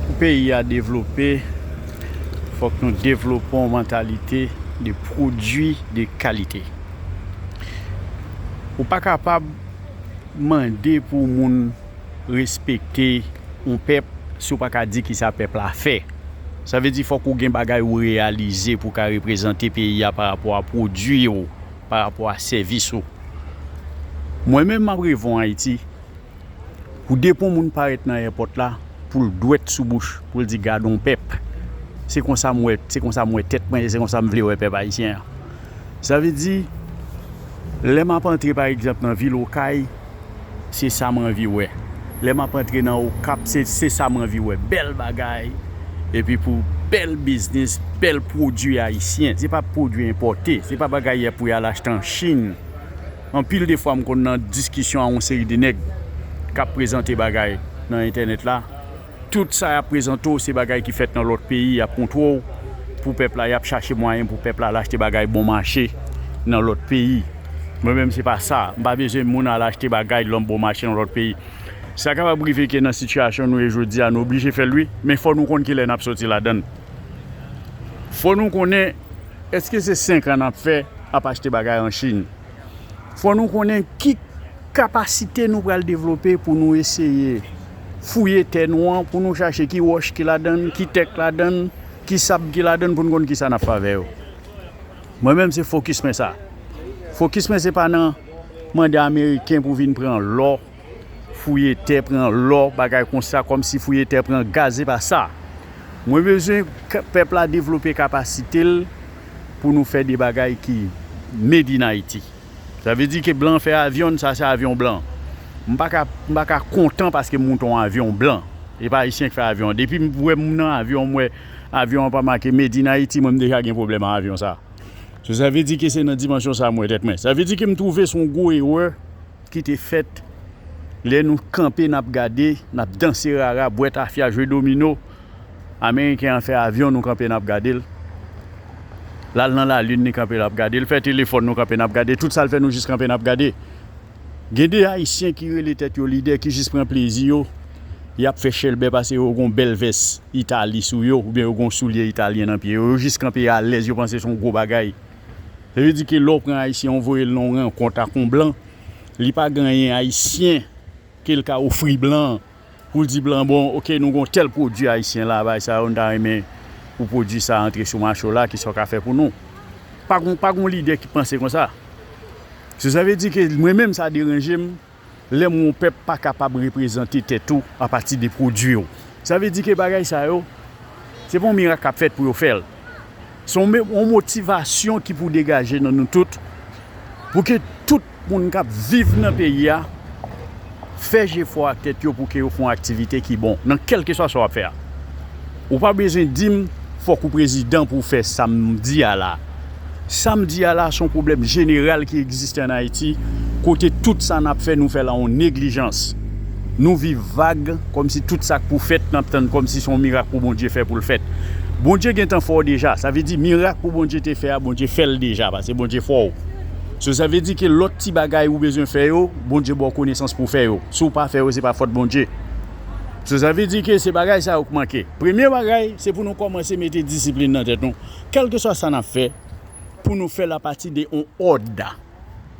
Pou peyi a devlope, fòk nou devlope yon mantalite de pwodui de kalite. Ou pa kapab mande pou moun respekte yon pèp si w pa ka di kisa pèp la fè. Sa vle di fòk ou gen bagay ou reyalize pou w ka reprezante peyi a pa rapò a pwodui ou, pa rapò a sèvis ou. Mwen menm m ap revon Ayiti. Pou depon moun parèt nan èpòt la pou l dwèt sou bouch pou l di gadon pèp se konsa m wè se konsa m wè tèt mwen e se konsa m vle wè pèp ayisyen an. Sa vle di lè m ap antre pa egzanp nan vil Okay se sa m anvi wè, lè m ap antre nan Okap se se sa m anvi wè bèl bagay epi pou bèl biznis bèl pwodui ayisyen se pa pwodui enpòte se pa bagay pou y al achte an Chinn. Anpil de fwa m konn nan diskisyon a yon seri de nèg k ap prezante bagay nan entènèt la. Tout sa y ap prezante w se bagay ki fèt nan lòt peyi, y ap montre w pou pèp la, y ap chache mwayen pou pèp la al achte bagay bon mache nan lòt peyi. Mwen menm se pa sa, m pa bezwen moun al achte bagay lan bon mache nan lòt peyi. Sa kapab rive ke nan sitiyasyon nou ye jodi a nou oblije fè l wi, men fò nou konn kilè n ap soti ladan l. Fò nou konnen Eske se 5 an nap fè ap achte bagay an chine? Fò nou konnen ki kapasite nou pral devlope pou nou eseye fouye tè nou an pou nou chache ki wòch ki ladann, ki tè k ladann, ki sab ki ladann pou nou konn kisa nap fè avè yo. Mwen menm se fokis mwen sa. Fokis mwen se pa nan mande ameriken pou vin pran lò. Fouye tè pran lò bagay konsa kòmsi fouye tè pran gaz epa sa mwen bezwen pèp la devlope kapasite l pou nou fè de bagay ki made in Haïti sa vle di ke blan fè avyon n sa se avyon blan m paka m paka kontan paske m moute yon avyon blan epa ayisyen ki fè avyon an depi m wè moun nan avyon an m wè avyon an pa make made in Haïti mwen m deja gen pwoblèm ak avyon sa sa vle di ke se nan dimansyon sa mwen wè tèt mwen sa vle di ke m twouve se yon gwo erè ki te fèt lè nou kanpe n ap gade, n ap danse rara, bwè tafya, jwe domino, ameriken an fè avyon nou kanpe n ap gade l, l al nan lalin li kanpe l ap gade, l fè telefòn nou kanpe n ap gade, tout sa l fè nou jis kanpe n ap gade. Gen de ayisyen ki rele tèt yo lidè ki jis pran plezi yo, y ap fè chèlbè pase yo gen w bèl vès Itali sou yo oubyen yo gen w soulye italyen nan pye yo, yo jis kanpe alèz yo panse se yon gwo bagay. Sa vle di ke lè w pran Ayisyen ou voye l nan yon rankont ak yon blan, li pa gen anyen Ayisyen ke l ka ofri blan an pou l di blan an bon ok nou gen yon tèl pwodui Ayisyen la bay sa yo nou ta renmen pou pwodui sa a antre sou mache w la kisa w ka fè pou nou? Pa gen yon lidè ki panse konsa. So sa vle di ke mwen menm sa deranje m lè m wè yon pèp pa kapab reprezante tèt ou apati de pwodui w. Sa vle di ke bagay sa yo, se pa yon mirak k ap fèt pou yo fè l. Se yon motivasyon ki pou degaje nan nou tout, pou ke tout moun k ap viv nan peyi a fè jefò ak tèt yo pou ke yo fè yon aktivite ki bon nan kèlkeswa sa w ap fè a. Ou pa bezwen di m fòk ou prezidan pou w fè sa m di a la. Sa m di a la se yon pwoblèm jeneral ki egziste ann Ayiti kote tout sa n ap fè nou fè l an yon neglijans. Nou viv vag kòmsi tout sa k pou fèt n ap tann kòmsi se yon mirak pou Bondye fè pou l fèt. Bondye gentan fè w deja. Sa vle di mirak pou Bondye te fè a Bondye fè l deja paske Bondye fè w. So sa vle di ke lòt ti bagay ou bezwen fè yo Bondye ba w konesans pou w fè yo. Si w pa fè yo se pa fòt Bondye. Sa sa vle di ke se bagay sa yo k manke. Premye bagay, se pou nou kòmanse mete disiplin nan tèt nou. Kèlkeswa sa n ap fè, pou nou fè l apati de yon òd.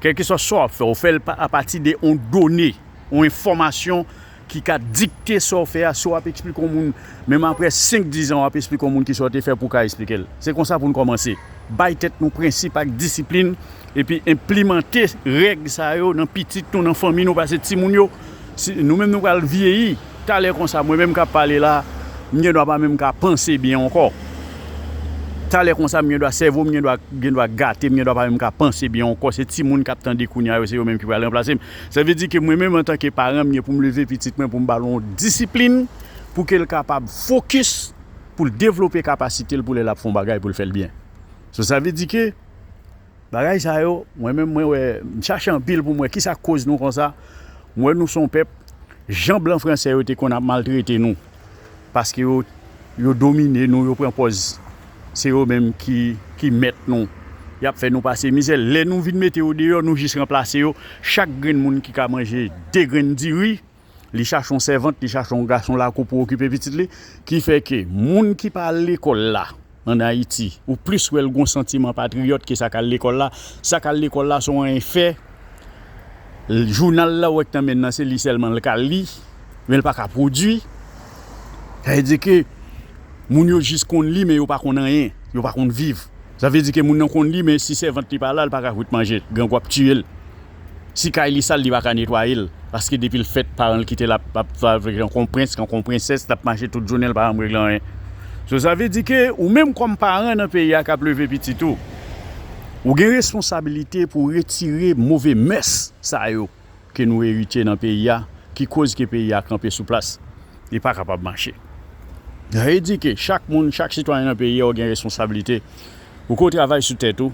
Kèlkeswa sa w ap fè, ou fè l apati de yon done, yon enfòmasyon ki ka dikte sa w fè a. Si w ap esplike yon moun, menm aprè senk, dizan, w ap esplike yon moun kisa w te fè pou w ka esplike l. Se konsa pou nou kòmanse. Bay tèt nou prensip ak disiplin. Epi enplimante règ sa yo nan pitit nou, nan fanmi nou pase timoun yo, si nou menm nou pral vyeyi talè konsa mwen menm kap pale la m gen dwa pa menm ka panse byen ankò talè konsa m gen dwa sèvo m gen dwa gen dwa gate m gen dwa pa menm ka panse byen ankò se timoun kap tande kounya yo se yo menm ki pral ranplase m sa vle di ke mwen menm antanke paran m gen pou m leve pitit mwen pou m ba l yon disiplin pou ke l kapab fokis pou l devlope kapasite l pou lè lap fè yon bagay pou l fè l byen so sa vle di ke. Bagay sa yo, mwen menm mwen wè, m chache anpil pou m wè kisa k koz nou konsa. M wè nou se yon pèp, jan blan franse yo te konn ap maltrete nou, paske yo, yo domine nou, yo pran pòz se yo menm ki, ki mèt nou. Y ap fè nou pase mizè. Lè nou vin mete yo deyò, nou jis ranplase yo. Chak grenn moun ki ka manje de grenn diri. li chache yon sèvant, li chache yon gason lakou pou okipe pitit li, ki fè ke moun ki pa al lekòl la an Ayiti, ou plis wè l gen yon santiman patriyòt ke sa k al lekòl la, sa k al lekòl la se yon enfè, jounal la ou wè ki nan men l lan se li sèlman l ka li, men l pa ka pwodui, sa vle di ke moun yo jis konn li men yo pa konn anyen, yo pa konn viv, sa vle di ke moun nan konn li men si sèvant li pa la, li pa ka kwit manje, grangou ap tiye l. Si kay li sal li paka netwayel paske depil fèt paranl kitel ap ap viv jan kon prens jan kon prensès lap mache tout jounenl pa janm regle anyen so sa vle di ke ou menm kòm paran nan peyi a kap leve pitit ou ou gen responsabilite pou retire move mès sa yo ke nou eritye nan peyi a ki koz ke peyi a kanpe sou plas li pa kapab mache sa vle di ke chak moun chak sitwayen nan peyi a ou gen responsabilite ou ke ou travay sou tèt ou.